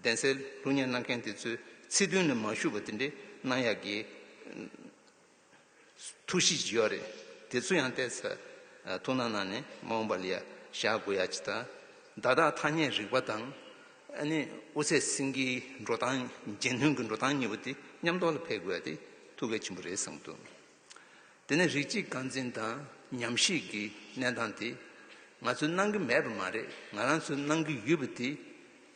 [SPEAKER 1] གདན་སའི་ལྷུག་བརྙན་གནང་མཁན་དེ་ཚོའི་ཚིག་དོན་ནི་མ་བཞུགས་པ་དེ་འདྲའི་གནང་ཡག་གི། ཐུགས་གཤིས་ཇི་ཡོད་རེད་དེ་ཚོ་ཡང་བལྟས་ཚར་ཐུགས་སྣང་གནང་ནས་མ་འོངས་པ་ལ་ཡ་བཞག་དགོས་ཡ་ཅི་དང། བརྡ་དག་ཐ་སྙད་རིག་པ་དང། དབུ་ཚད་སེང་གེའི་འགྲོ་སྟངས་རྗེས་མཐུན་གྱི་འགྲོ་སྟངས་གཉིས་པོ་དེ་མཉམ་རྟོགས་ལ་འཕེལ་དགོས་ཡ་དེ་ཐུགས་གལ་ཆེན་པོ་རེད་བསམ་གྱི་འདུག། དེ་ནི་རིགས་གཅིག་རྐང་འཛིན་དང་ཉམས་ཞིབ་ཀྱི་གནས་སྟངས་དེ་ང་ཚོས་གནང་གི་མེད་པ་མ་རེད་ང་རང་ཚོས་གནང་གི་ཡོད་པ་དེ་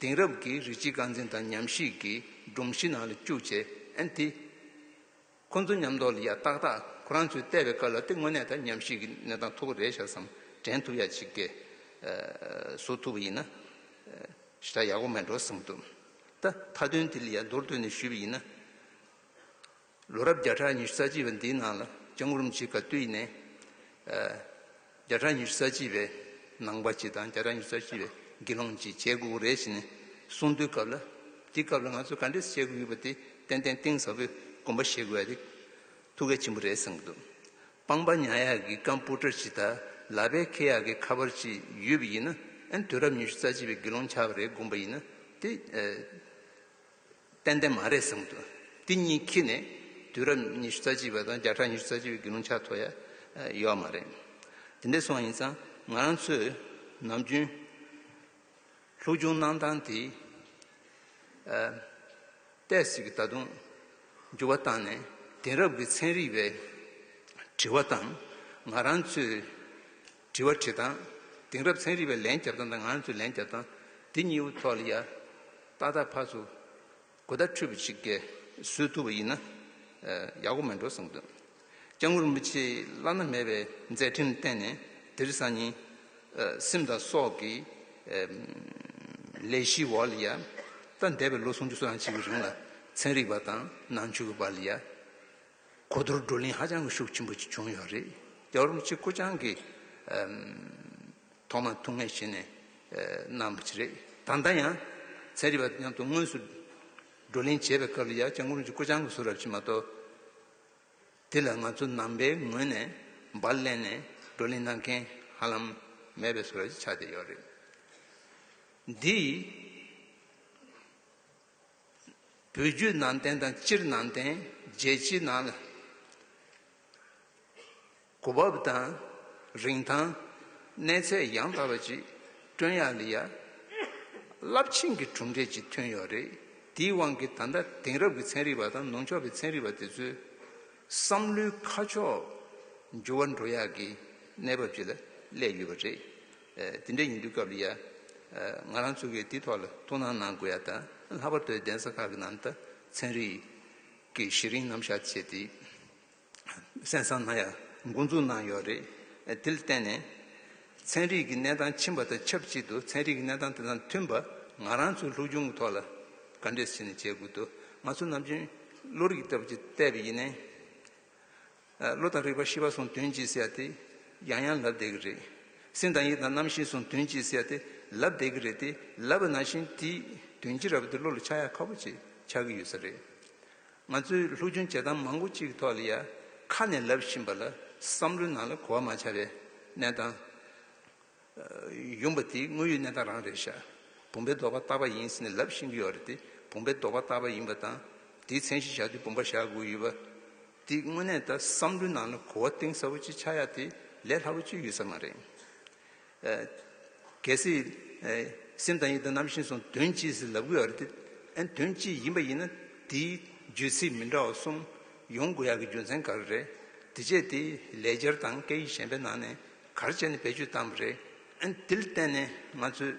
[SPEAKER 1] དེང་རབས་ཀྱི་རིགས་གཅིག་རྐང་འཛིན་དང་ཉམས་ཞིབ་ཀྱི་སྒྲོམ་གཞི་ནང་ལ་བཅུག་བྱས་ཨེ་འཐད། ཁོ་ཚོ་ཉམས་རྟོགས་ལ་ཡ་ཏག་ཏག་ཁོ་རང་ཚོས་བལྟས་པའི་སྐབས་ལ་དེ་དངོས་གནས་ད་ཉམས་ཞིབ་ཀྱི་གནས་སྟངས་མཐོ་པོ་རེད་ཤག་བསམ་དྲན་ཐུབ་ཡག་ཅིག་སྐད་བཟོ་ཐུབ་པ་ཡིན་ན་ཤ་སྟག་ཡག་པོ་མེད་འགྲོ་བསམ་འདུག་ད་མཐའ་དོན་དེ་ལ་ཡ་མདོར་བསྡུས་ནས་ཞུས་པ་ཡིན་ན། ལོ་རབས་བརྒྱ་ཕྲག་ཉི་ཤུ་རྩ་གཅིག་པའི་འདིའི་ནང་ལ་ལྕང་རུམ་གྱི་ག་དུས་ནས་བརྒྱ་ཕྲག་ཉི་ཤུ་རྩ་གཅིག་པའི་ནང་པ་གཅིག་དང་བརྒྱ་ཕྲག་ཉི་ཤུ་རྩ་གཅིག་པའི་དགེ་སློང་གཅིག་བྱེད་དགོས་རེད་ཅེས་ནས་གསུངས་དུས་སྐབས་ལ་དེ་སྐབས་ལ་ང་ཚོས་ག་འདྲས་བྱེད་དགོས་ཡོད་པ་དེ་ཏན་ཏན་གཏིང་ཟབ་པོས་དགོངས་པ་བཞེས་དགོས་ཡ་རེད། ཐུགས་གལ་ཆེན་པོ་རེད་བསམ་གྱི་འདུག་སྤང་པ་ཉག་ཡག་གི་ཀམ་པུ་ཏར་གཅིག་དང་ལག་པའི་ཁེ་ཡག་གི་ཁ་པར་གཅིག་ཡོད་པ་ཡིན་ན་ཨན་དུས་རབས་ཉི་ཤུ་རྩ་གཅིག་པའི་དགེ་སློང་ཆགས་པ་རེད་དགོངས་པ་ཡིན་ན་དེ་ཏན་ཏན་མ་རེད་བསམ་འདུག་འདི་གཉིས་ཁྱི་ནས་དུས་རབས་ཉི་ཤུ་རྩ་གཅིག་པ་དང་བརྒྱ་ཕྲག་ཉི་ཤུ་རྩ་གཅིག་པའི་དགེ་སློང་ཆགས་ཐོ་ཡ་ཡོད་མ་རེད། དེ་འདྲས་སོང་ཡིན་ཙང་ང་རང་ཚོས་ནམ་རྒྱུན་ལྷུག་རྒྱུགས་གནང་སྟངས་དེ་ལྟས་ཟིག་གི་ད་དུང་འགྱུར་བ་བཏང་ནས་དེང་རབས་ཀྱི་ཚན་རིག་པའི་དྲི་བ་དང་ང་རང་ཚོའི་དྲི་བ་དྲིས་དང། དེང་རབས་ཚན་རིག་པས་ལན་བརྒྱབ་སྟངས་དང་ང་ཚོས་ལན་བརྒྱབ་སྟངས་འདི་གཉིས་པོ་ཐོག་ལ་ཡ་ཏག་ཏག་ཕར་ཚུར་གོ་བརྡ་འཕྲོད་པ་ཞིག་ག་བཟོས་ཐུབ་པ་ཡིན་ན་ཡག་པོ་མེད་འགྲོ་བསམ་འདུག་སྐྱབས་མགོན་རིན་པོ་ཆེའི་བླ་ན་མེད་པའི་མཛད་འཕྲིན་བསྟན་ནས་དིར་ཟ་ཉིན་སིམ་དང་སོགས་ཀྱི་ལས་གཞི་འོག་ལ་ཡ་ཏག་འདས་པའི་ལོ་སུམ་ཅུ་སོ་ཡང་ཅིག་གི་རིང་ལ་ཚན་རིག་པ་དང་ནང་ཆོས་ཀྱི་བར་ལ་ཡ་གོ་བསྡུར་བགྲོ་གླེང་ཧ་ཅང་ཤུགས་ཆེན་པོ་ཞིག་བྱུང་ཡོད་རེད། རྒྱ་རོགས་གཅིག་སྐུ་ཅང་གིས་ཐོག་མར་ཐུགས་ངལ་བཞེས་ནས་གནང་བ་ཞིག་རེད། ད་ལྟ་ཡང་ཚན་རིག་པ་མཉམ་དུ་དངོས་སུ་བགྲོ་གླེང་བྱེད་པའི་སྐབས་ལ་ཡར་བརྐྱང་བསྐུར་གྱིས་སྐུ་ཅང་གི་གཟུགས་རབ་བྱེད་མ་གཏོགས། དེ་ལ་ང་ཚོ་ནང་པའི་ངོས་ནས་འབར་གླན་ནས་བགྲོ་གླེང་གནང་མཁན་ཧ་ལམ་མེད་པའི་གཟུགས་རབ་ཅིག་ཆགས་བསྡད་ཡོད་རེད། འདིས། བུ་རྒྱུད་ནང་བསྟན་དང་སྤྱིར་ནང་བསྟན་རྒྱལ་སྤྱིའི་ནང་ལ་གོ་བབ་དང་རིན་ཐང་གནས་ཚད་ཡང་དག་པ་ཅིག་བསྐྲུན་ཡག་ལི་ཡ་རླབས་ཆེན་གྱི་གྲུབ་འབྲས་ཅིག་ཐོན་ཡོད་རེད་དེའི་དབང་གིས་ད་ལྟ་དེང་རབས་ཀྱི་ཚན་རིག་པ་དང་ནུབ་ཕྱོགས་པའི་ཚན་རིག་པ་དེ་ཚོའི་བསམ་བློའི་ཁ་ཕྱོགས་འགྱུར་བ་འགྲོ་ཡག་གི་གནས་བབ་ཅིག་ལ་སླེབས་ཡོད་པ་རེད། དེ་འདྲ་ཡིན་དུས་སྐབས་ལ་ཡ། ང་རང་ཚོ་གིས་དེའི་ཐོག་ལ་ཐུགས་སྣང་གནང་དགོས་ཡ་ད་ལྷག་པར་དུ་གདན་ས་ཁག་གི་ནང་དུ་ཚན་རིག་གི་གཞི་རིམ་རྣམ་གཞག་བྱས་ཏེ་གསན་བསམ་གནང་ཡ་མགོ་འཛུགས་གནང་ཡོད་རེད། དེ་ལ་བརྟེན་ནས་ཚན་རིག་གི་གནས་སྟངས་ཕྱིན་པ་དང་ཆབས་ཅིག་ཏུ་ཚན་རིག་གི་གནས་སྟངས་དེ་དང་མཐུན་པ་ང་རང་ཚོའི་ལྷུག་སྦྱོང་གི་ཐོག་ལ་བཀའ་འདྲི་ཞིག་ནས་བྱེད་དགོས་འདུག་ང་ཚོ་ནམ་རྒྱུན་བློ་རིག་ལྟ་བུ་ཅིག་གཏད་པ་ཡིན་ནའི། བློ་དང་རིག་པ་ཤེས་པ་གསུང་དོན་གྱིས་བསལ་ཏེ་ཡང་ཡང་ལབ་བསྡད་ཀྱི་རེད། སེམས་དང་ཡིད་དང་རྣམ་ཤེས་གསུང་དོན་གྱིས་བསལ་ཏེ་ལབ་བསྡད་ཀྱི་རེད་དེ་ལབ་པ་ནང་བཞིན་དེ་དོན་སྤྱི་ར་བ་དེ་བློ་ལ་ཆགས་ཡ་ཁ་བོ་ཆེ་ཆགས་ཀྱི་ཡོད་ས་རེད། ང་ཚོས་ལྷུག་སྦྱོང་བྱེད་སྟངས་མང་པོ་གཅིག་གི་ཐོག་ལ་ཡ་ཁ་ནས་ལབ་བཞིན་པ་ལ་བསམ་བློའི་ནང་ལ་གོ་བ་མ་ཆགས་པའི་གནས་སྟངས། ཡུམ་པ་དེའི་དངོས་ཡོད་གནས་སྟངས་རང་རེད་ཤག། བུམ་པའི་ལྡོག་པ་བཏགས་པ་ཡིན་ཟེར་ནས་ལབ་ཤེས་ཀྱི་ཡོད་རེད་དེ་བུམ་པའི་ལྡོག་པ་བཏགས་པ་ཡིན་པ་དང། དེའི་མཚན་གཞི་བཞག་དུས་བུམ་པ་བཞག་དགོས་ཡོད་པ། དེའི་དངོས་གནས་ལྟར་བསམ་བློའི་ནང་ལ་གོ་བ་གཏིང་ཟབ་པོ་ཅིག་ཆགས་ཡག་དེ་ལས་སླ་པོ་ཅིག་ཡོད་ས་མ་རེད། གལ་སྲིད། སེམས་དང་ཡིད་དང་རྣམ་ཤེས་སོགས་དོན་སྤྱི་ཟེར་ལབ་གི་ཡོད་རེད་དེ། དོན་སྤྱི་ཡིན་པ་ཡིན་ན་དེའི་བརྗོད་ཚིག་མི་འདྲ་བ་གསུམ་ཡོང་དགོས་ཡག་གི་རྒྱུ་མཚན་ག་རེ་རེད། དེ་བྱས་དེ་ལས་སྦྱར་དང་སྐད་ཡིག་གཞན་པའི་ནང་ནས་གར་བྱས་ནས་བེད་སྤྱོད་བཏང་བ་རེད། དེ་ལ་བརྟེན་ནས་ང་ཚོས་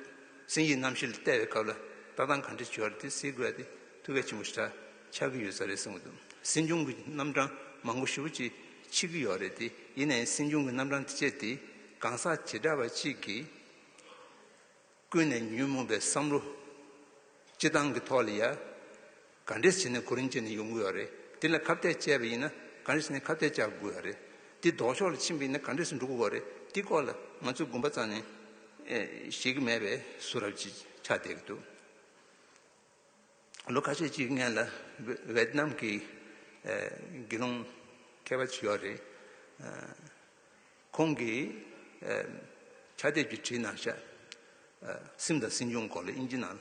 [SPEAKER 1] གསན་ཡིག་རྣམ་བཞི་ལ་བལྟ་བའི་སྐབས་ལ་ལྟ་སྟངས་ག་འདྲའི་བྱུས་བར་དེ་གཟིགས་དགོས་ཏེ་ཐུགས་གལ་ཆེན་པོ་ཞེ་དྲག་ཆགས་ཀྱི་ཡོད་ས་རེད་གསུངས་འདུག་སྲིད་སྐྱོང་གི་རྣམ་གྲངས་མང་པོ་ཞིབ་པོ་ཅིག་མཆིས་ཀྱི་ཡོད་རེད་དེ་ཡིན་ནའི་སྲིད་སྐྱོང་གི་རྣམ་གྲངས་དེ་སྤྱད་དེ་གང་ཟག་བྱེ་བྲག་པ་གཅིག་གིས། ཀུན་ནས་ཉོན་མོངས་པའི་བསམ་བློ་སྤྱི་བཏང་གི་ཐོག་ལ་ཡ་ག་འདྲེས་བྱས་ནས་གོ་རིམ་བྱས་ནས་ཡོང་གི་ཡོད་རེད་དེ་ལ་ཁ་བཏད་བཅད་པ་ཡིན་ན་ག་འདྲེས་བྱས་ནས་ཁ་བཏད་བཅད་དགོས་ཡོད་རེད་དེ་ལྡོག་ཕྱོགས་ལ་ཕྱིན་པ་ཡིན་ན་ག་འདྲེས་འགྲོ་གི་ཡོད་རེད་དེ་སྐོར་ལ་ང་ཚོས་དགོངས་པ་རྩ་ནས་བཞེས་ཀྱི་མེད་པས་སུ་རབ་ཅིག་ཆ་བསྡད་ཀྱི་འདུག། ལོ་ཁ་ཤས་ཀྱི་སྔན་ལ་ཝེ་ཏི་ནམ་གྱི་དགེ་སློང་མཁས་པ་ཅིག་ཡོད་རེད། ཁོང་གིས་ཕྱག་དེབ་ཀྱི་བྲིས་ནང་ཤ་སིམ་དང་སྲིང་ཆུང་སྐོར་ལ་དབྱིན་ཇི་ནང་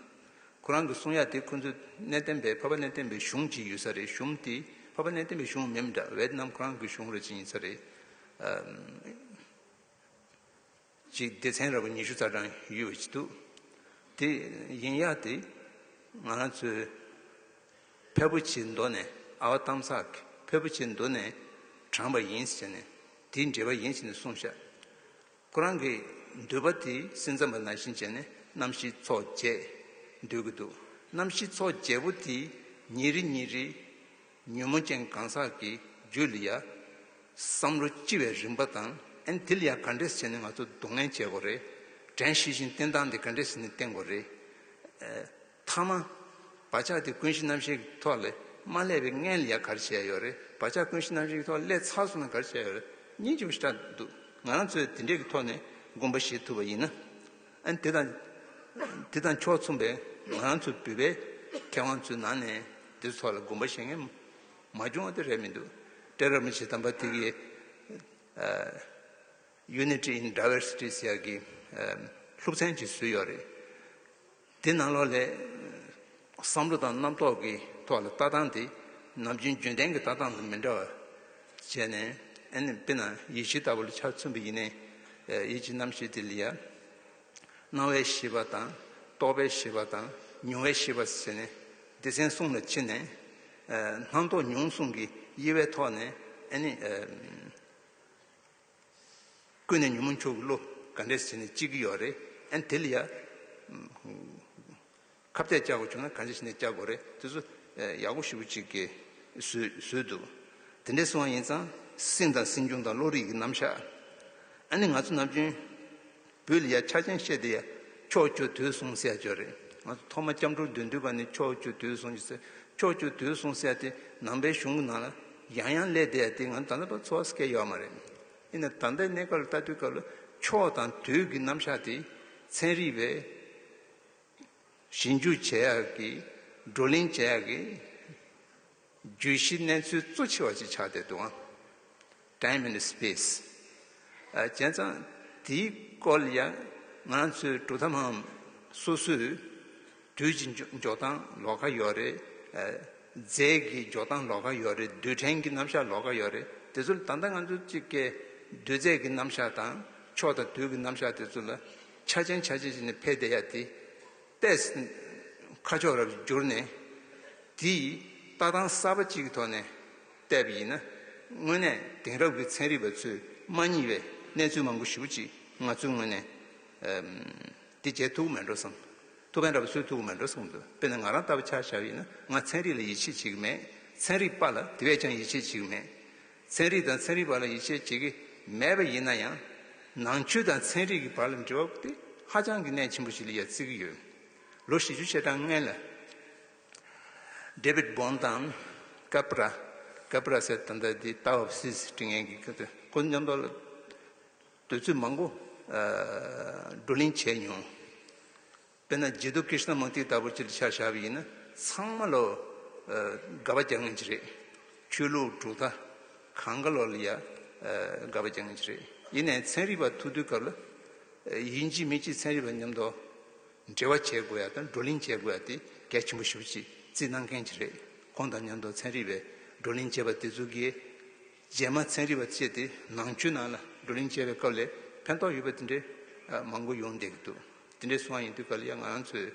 [SPEAKER 1] ཁོ་རང་གིས་གསུང་ཡ་དེ་ཁོ་ཚོའི་གནས་བརྟན་པའི་ཕ་ཕ་གནས་བརྟན་པའི་གཞུང་ཅིག་ཡོད་ས་རེད་གཞུང་དེ་ཕ་ཕ་གནས་བརྟན་པའི་གཞུང་མིན་འདྲ་ཝེ་ཏི་ནམ་ཁོ་རང་གི་གཞུང་རེད་ཅིག་ཡིན་ས་རེད། གཅིག་སྡེ་ཚན་ར་བ་ཉི་ཤུ་རྩ་གྲངས་ཡོད་འདུག་དེ་ཡིན་ཡ་དེ་ང་རང་ཚོའི་ཕལ་པོ་ཆེའི་མདོ་ནས་ཨ་བ་གཏམ་ཚག་གི་ཕལ་པོ་ཆེའི་མདོ་ནས་དྲངས་པ་ཡིན་ཟེར་ནས་དེའི་འགྲེལ་པ་ཡིན་ཟེར་ནས་གསུངས་ཤག་ཁོ་རང་གི་འདོད་པ་དེ་སེམས་ཙམ་པ་ནང་བཞིན་བྱས་ནས་གནམ་གཤིས་ཚོགས་བརྒྱད་འདོད་ཀྱི་འདུག་གནམ་གཤིས་ཚོགས་བརྒྱད་པོ་དེ་ཉིན་རེ་ཉིན་རེ། ཉོན་མོངས་ཅན་གང་ཟག་གི་རྒྱུད་ལ་ཡང། བསམ་བློ་ལྕི་བའི་རིམ་པ་དང་ཨེ་འདི་ལ་ཡང་ག་འདྲས་བྱས་ནས་ང་ཚོ་སྡུག་བསྔལ་བྱེད་དགོས་རེད། དྲན་ཤེས་བཞིན་བསྟེན་སྟངས་འདི་ག་འདྲས་བྱས་ནས་བསྟེན་དགོས་རེད། ཐ་མ། བག་ཆགས་དེ་ཀུན་གཞི་རྣམ་ཤེས་ཀྱི་ཐོག་ལས་མ་སླད་པའི་མངལ་ལ་ཡང་གར་བྱས་ཡོད་རེད། བག་ཆགས་ཀུན་གཞི་རྣམ་ཤེས་ཀྱི་ཐོག་སླད་ཚར་སོང་ན་གར་བྱས་ཡོད་རེད། གཉིས་ཀྱི་བཞི་སྒྲ་འདུག་ང་རང་ཚོས་དེ་འདྲས་ཀྱི་ཐོག་ནས་སྒོམ་པ་བྱེད་ཐུབ་པ་ཡིན་ན། དེ་དང་དེ་དང་ཕྱོགས་མཚུངས་པའི་ང་རང་ཚོ་འབུད་པའི་མཁས་དབང་ཚོའི་ནང་ནས་འདི་ཚོ་ལ་དགོངས་པ་བཞེས་མཁན་མ་བྱུང་བ་དེ་རེད་མི་འདུག་ཀྲེ་ར་མི་ཆི་དམ་པ་དེ་གིས Unity in Diversity ཟེར་གྱི་ལྷུག་ཚན་ཅིག་བཟོས་ཡོད་རེད། དེ་ནང་ལོགས་ལས་བསམ་བློ་དང་རྣམ་རྟོག་གི་ཐོག་ལ་ལྟ་སྟངས་དེ་ནམ་རྒྱུན་རྒྱུན་ལྡན་གྱི་ལྟ་སྟངས་དང་མི་འདྲ་བ། བྱས་ནས་ཨེ་ནི་དཔེར་ན་ཡིད་བྱེད་ལྟ་བུ་ལ་ཆ་མཚོན་པ་ཡིན། ཡིད་བྱེད་རྣམ་ཤེས་དེ་ལ་ཡང། སྣང་བའི་ཤེས་པ་དང། རྟོག་པའི་ཤེས་པ་དང། མྱོང་བའི་ཤེས་པ་བྱས་ནས། སྡེ་ཚན་གསུམ་ལ་ཕྱེ་ནས། སྣང་རྟོག་མྱོང་གསུམ་གྱི་དབྱེ་བའི་ཐོག་ནས་ཨེ་ནི། ཀུན་ནས་ཉོན་མོངས་ཁྱོ་གའི་བློ། ག་འདྲས་བྱས་ནས་སྐྱིད་ཀྱི་ཡོད་རེད་ཨན་དེ་ལ་ཡ། ཁ་བརྡས་བཅག་དགོས་བྱུང་ན་ག་འདྲས་བྱས་ནས་བཅག་དགོས་རེད་དེ་ཚོ་ཡག་པོ་ཞུ་བོ་ཅིག་གི། བཟོས་འདུག་དེ་འདྲས་སུའང་ཡིན་ཙང་སེམས་དང་སེམས་བྱུང་དང་བློ་རིག་གི་རྣམ་གཞག། ཨ་ནི་ང་ཚོ་ནམ་རྒྱུན། བུ་ལ་ཡ་ཆ་ཅན་བཤད་དེ་ཡ། ཕྱོགས་བཅུ་དུས་གསུང་གསལ་བརྗོད་རེད། ང་ཚོ་ཐོག་མ་སྐྱབས་འགྲོ་བདུད་འདུལ་བ་ནི་ཕྱོགས་བཅུ་དུས་གསུང་གསལ། ཕྱོགས་བཅུ་དུས་གསུང་གསལ་དེ་ནང་པའི་གཞུང་གི་ནང་ལ་ཡང་ཡང་སླེབས་དེ་ཡ་དེ་ང་ཚོ་དམ་པ་ཚོ་བ་སྐད་ཡོད་མ་རེད། ཡིན་ནའི་དམ་པའི་གནས་སྐབས་ལ་ལྟ་དུས་སྐབས་ལ་ཕྱོགས་དང་དུས་ཀྱི་རྣམ་གཞག་དེ་ཚན་རིག་པས་ཞིབ་འཇུག་བྱེད་ཡག་གི་བགྲོ་གླེང་བྱེད་ཡག་གི། བརྗོད་གཞིའི་གནས་ཚུལ་གཙོ་ཆེ་བ་ཅིག་ཆགས་བསྡད་འདུག་ཨང། Time and Space། བྱས་ཙང་དེའི་སྐོར་ལ་ཡང་ང་ཚོའི་གྲུབ་མཐའ་མའམ་སོ་སོའི་དུས་ཀྱི་འཇོག་སྟངས་ལོགས་ཀ་ཡོད་རེད། རྫས་ཀྱི་འཇོག་སྟངས་ལོགས་ཀ་ཡོད་རེད་རྡུལ་ཕྲན་གྱི་རྣམ་གཞག་ལོགས་ཀ་ཡོད་རེད་དེ་ཚོ་ལ་ད་ལྟ་ང་ཚོ་གཅིག་ཀའི་རྡུལ་རྫས་ཀྱི་རྣམ་གཞག་དང་ཕྱོགས་དང་དུས་ཀྱི་རྣམ་གཞག་དེ་ཚོ་ལ་ཆ་ཅན་ཆ་ཅན་ཞིག་ནས་ཕེབས་བསྡད་ཡ་དེ། ལྟས། ཁ་ཕྱོགས་རབ་བསྒྱུར་ནས། དེ་ཡིས་ལྟ་སྟངས་གསར་པ་གཅིག་གི་ཐོག་ནས་བལྟས་པ་ཡིན་ན། དངོས་གནས་དེང་རབས་ཀྱི་ཚན་རིག་པ་ཚོས་མ་རྙེད་པའི་གནས་ཚུལ་མང་པོ་ཞིག་ཅིག་ང་ཚོའི་ངོས་ནས། འདི་བརྗེད་ཐུབ་ཀྱི་མེད་འགྲོ་བསམ། ཐུབ་དཔོན་ར་བ་ཚོས་ཐུབ་ཀྱི་མེད་འགྲོ་བསམ་གི་འདུག་དཔེར་ན་ང་རང་ལྟ་བུ་ཆ་བཞག་ཡིན་ན་ང་ཚན་རིག་ལ་ཡིད་ཆེས་བྱེད་ཀྱི་མེད། ཚན་རིག་པ་ལ་དེ་བས་ཀྱང་ཡིད་ཆེས་བྱེད་ཀྱི་མེད། ཚན་རིག་དང་ཚན་རིག་པ་ལ་ཡིད་ཆེས་བྱེད་ཀྱི་མེད་པ་ཡིན་ན་ཡང། ནང་ཆོས་དང་ཚན་རིག་གི་བར་ལ་འབྲེལ་བ་དེ་ཧ་ཅང་གི་གནད་ཆེན་པོ་ཞིག་ལ་ཡང་བརྩི་གི་ཡོད། ལོ་བཞི་བཅུ་ཕྱེད་གྲངས་སྔན་ལ། David Bohm དང། Capra Capra སེར་ད་ལྟ་དེ Tao of Sis དྲི་ངན་གྱི་ཁྱོད་ཚོས་ཁོ་ཚོའི་མཉམ་འབྲེལ་ལ་འདོད་ཚུལ་མང་པོ་བགྲོ་གླེང་བྱས་མྱོང། དཔེར་ན་རྗེ་བདུད་ཀིརྟི་ན་མུཀྟི་ལྟ་བུར་སྤྱི་ལ་ཕྱག་བྱ་བ་ཡིན་ན་ཚང་མ་ལོ་དགའ་བ་རྒྱག་ངེས་ཀྱི་རེད། ཆོས་ལུགས་གྲུབ་མཐའ་གང་ག་ལོར་ལ་ཡང་དགའ་བ་རྒྱག་ངེས་ཀྱི་རེད། ཡིན་ནའི་ཚན་རིག་པ་ཐུག་དུས་སྐབས་ལ་ཡིན་གཅིག་མིན་གཅིག་ཚན་རིག་པ་མཉམ་དུ་འབྲེལ་བ་བྱེད་དགོས་ཡ་དང་བགྲོ་གླེང་བྱེད་དགོས་ཡ་དེ་གལ་ཆེན་པོ་ཞིག་བྱེད་རྩིས་གནང་མཁན་གྱི་རེད། ཁོང་དང་མཉམ་དུ་ཚན་རིག་པའི་བགྲོ་གླེང་བྱེད་པ་དེ་ཚོ་གིས། རྗེས་མ་ཚན་རིག་པ་བཅས་དེ་ནང་ཆུ་ནང་ལ་བགྲོ་གླེང་བྱས་པའི་སྐབས་ལས་ཕན་ཐོགས་ཡོད་པ་དེ་འདྲའི་མང་པོ་ཡོང་བསྡད་ཀྱི་འདུག་དེ་འདྲའི་སོང་བ་ཡིན་དུས་ག་ལ་ཡང་ང་རང་ཚོས་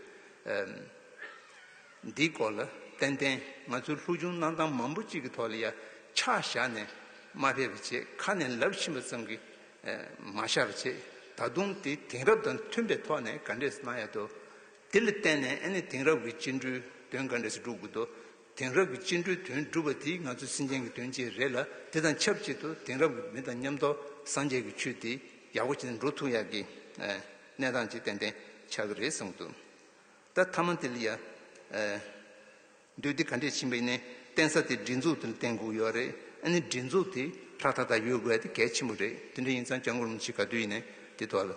[SPEAKER 1] འདིའི་སྐོར་ལ་ཏན་ཏན་ང་ཚོའི་ལྷུག་ཆུང་གནང་སྟངས་མང་པོ་གཅིག་གི་ཐོག་ལ་ཡ་ཆག་བཞག་ནས་མ་ཕེབས་པ་བྱས་ཁ་ནས་ལབ་ཕྱིན་པ་ཙམ་གྱིས་མ་ཤར་བ་བྱས་ད་དུང་དེ་དེང་རབས་དང་མཐུན་པའི་ཐོག་ནས་ག་འདྲས་སུ་གནང་ཡག་འདུག་དེ་ལ་བརྟེན་ནས་ཨ་ནི་དེང་རབས་ཀྱི་སྤྱི་འགྲོས་དོན་ག་འདྲས་སུ་སྒྲུབ་དགོས་འདུག་དེང་རབས་ཀྱི་སྤྱི་འགྲོས་དོན་སྒྲུབ་པ་འདི་ང་ཚོའི་སེམས་ཅན་གྱི་དོན་ཆེད་རེད་ལ་དེ་དང་ཆབས་ཅིག་ཏུ་དེང་རབས་ཀྱི་མི་དང་མཉམ་འདོག་སངས་རྒྱས་ཀྱི་ཆོས་འདི་ཡག་པོ་བྱས་ན་འགྲོ་ཐུག་ཡག་གི་གནས་སྟངས་ཅིག་ཏན་ཏན་ཆགས་ཀྱི་རེད་བསམ་གི་འདུག་ད་མཐའ་མ་དེ་ལ་ཡ་འདོད་དེ་ག་འདྲས་ཕྱིན་པའི་ནས་བསྟན་ས་དེ་སྒྲིག་འཛུགས་དེ་ལ་བསྟན་དགོས་ཀྱི་ཡོད་རེད་ཨ་ནི་སྒྲིག་འཛུགས་དེ་ཧྲག་ཐག་ཐག་ཡོད་དགོས་དེ་གལ་ཆེན་པོ་རེད་དེ་འདྲ་ཡིན་ཙང་སྐྱག་འགོར་མི་བྱེད་ག་དུས་ཡིན་ནས་དེ་ཐོག་ལ།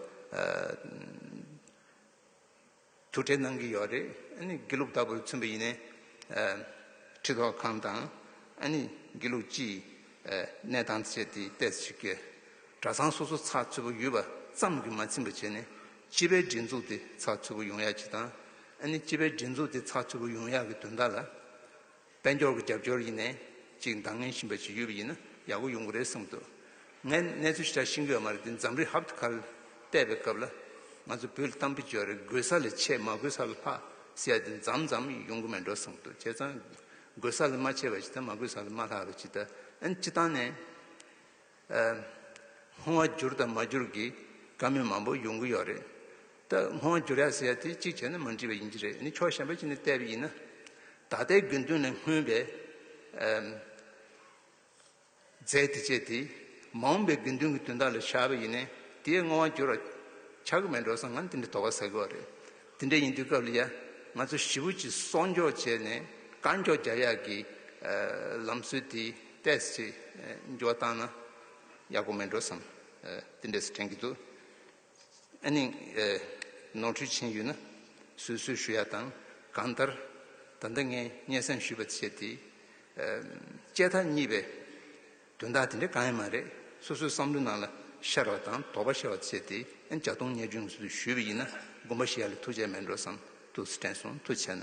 [SPEAKER 1] དུ་བྲེལ་གནང་གི་ཡོད་རེད། དགེ་ལུགས་ལྟ་བུར་མཚོན་པ་ཡིན་ནས། ཁྲི་ཐོག་ཁང་དང། དགེ་ལུགས་སྤྱིའི་གནས་སྟངས་བཅས་དེ་བལྟས་ཚེ་ཆོས་ཀྱི་གྲྭ་ཚང་སོ་སོ་ཚགས་ཚུད་པོ་ཡོད་པ་ཙམ་གྱིས་མ་ཚིམ་པ་བྱས་ནས་སྤྱི་པའི་སྒྲིག་འཛུགས་དེ་ཚགས་ཚུད་པོ་ཡོང་ཡག་ཅིག་དང། སྤྱི་པའི་སྒྲིག་འཛུགས་དེ་ཚགས་ཚུད་པོ་ཡོང་ཡག་གི་དོན་དག་ལ། དཔལ་འབྱོར་གྱི་རྒྱབ་སྐྱོར་ཡིན་ནའི་ཅིག་འདང་ངེས་བཞིན་པ་ཞིག་ཡོད་པ་ཡིན་ན་ཡག་པོ་ཡོང་གི་རེད་གསུངས་འདུག་ངས་གནས་ཚུལ་ཞིག་ཆ་ཤིང་ཡོད་མ་རེད་འདི་འཛམ་རི་ཧབ་ཏུ་ཁ་གཏད་པའི་སྐབས་ལ་ང་ཚོ་བོད་གཏམ་བེད་སྤྱོད་རེ་དགོས་ས་ལས་ཆེས་མ་དགོས་ས་ལ་ལྷག་ཟེར་ཡ་འདི་འཛམ་འཛམ་ཡོང་གི་མེད་འགྲོ་གསུངས་འདུག་བྱས་ཙང་དགོས་ས་ལ་མ་ཆེ་བ་ཇི་ལྟར་མ་དགོས་ས་ལ་མ་ལྷག་གི་ཇི་ལྟར་ཨེ་ཅི་སྟངས་ནས། སྔོ་བ་འགྱུར་དང་མ་འགྱུར་གྱི་བཀའ་མོལ་མང་པོ་ཡོང་གི་ཡོད་རེད། ད་སྔོ་བ་འགྱུར་ཡ་ཟེར་ཡ་དེ་གཅིག་བྱས་ན་མ་འགྲིག་པ་ཡིན་གྱི་རེད་ནི་ཕྱོགས་གཞན་པ་ཅིག་ནས་བལྟས་པ་ཡིན་ན། ད་ལྟའི་དགེ་འདུན་ལས་སྔོན་པའི་རྫས་དེ་བྱས་དེ་མ་འོངས་པའི་དགེ་འདུན་གྱི་དོན་དག་ལ་བཞག་པ་ཡིན་ནའི་དེས་སྔོ་བ་འགྱུར་བ་ཆགས་ཀྱི་མེད་འགྲོ་བསམ་ང་ནི་དེ་འདྲའི་དོགས་པ་ཟ་གི་འོ་རེད། དེ་འདྲ་ཡིན་དུས་སྐབས་ལ་ཡ་ང་ཚོ་ཞི་བུ་གཅིག་གསོག་འཇོག་བྱས་ནས་དཀར་མགྱོགས་རྒྱ་ཡག་གི་ལམ་སྲོལ་དེ་ཏེས་ཅིག་འགྱོགས་བཏང་ན་ཡག་པོ་མེད་འགྲོ་བསམ། དེ་འདྲས་སུ་དྲན་གྱི་འདུག་ཨ་ནི་ནོར་འཁྲུལ་ཕྱིན་ཡོད་ན་བཟོད་གསོལ་ཞུ་ཡ་དང་གང་ལྟར་ད་ལྟ་ངས་སྙན་གསན་ཞུས་པ་བཅས་དེ་དཔྱད་ཐག་གཉིས་པའི་དོན་དག་དེ་འདྲ་གང་ཡང་མ་རེད། སོ་སོའི་བསམ་བློའི་ནང་ལ་ཤར་བ་དང་དོགས་པ་ཤར་བ་བཅས་དེ་ཡང་བྱ་གཏོང་ཉེས་སྐྱོན་གྱི་ཚུལ་དུ་ཞུས་པ་ཡིན་ན་དགོངས་པ་བཞེས་ཡ་ལ་ཐུགས་ཆེ་མེད་འགྲོ་བསམ་དུ་དྲན་སོང་ཐུགས་ཆེ་ན།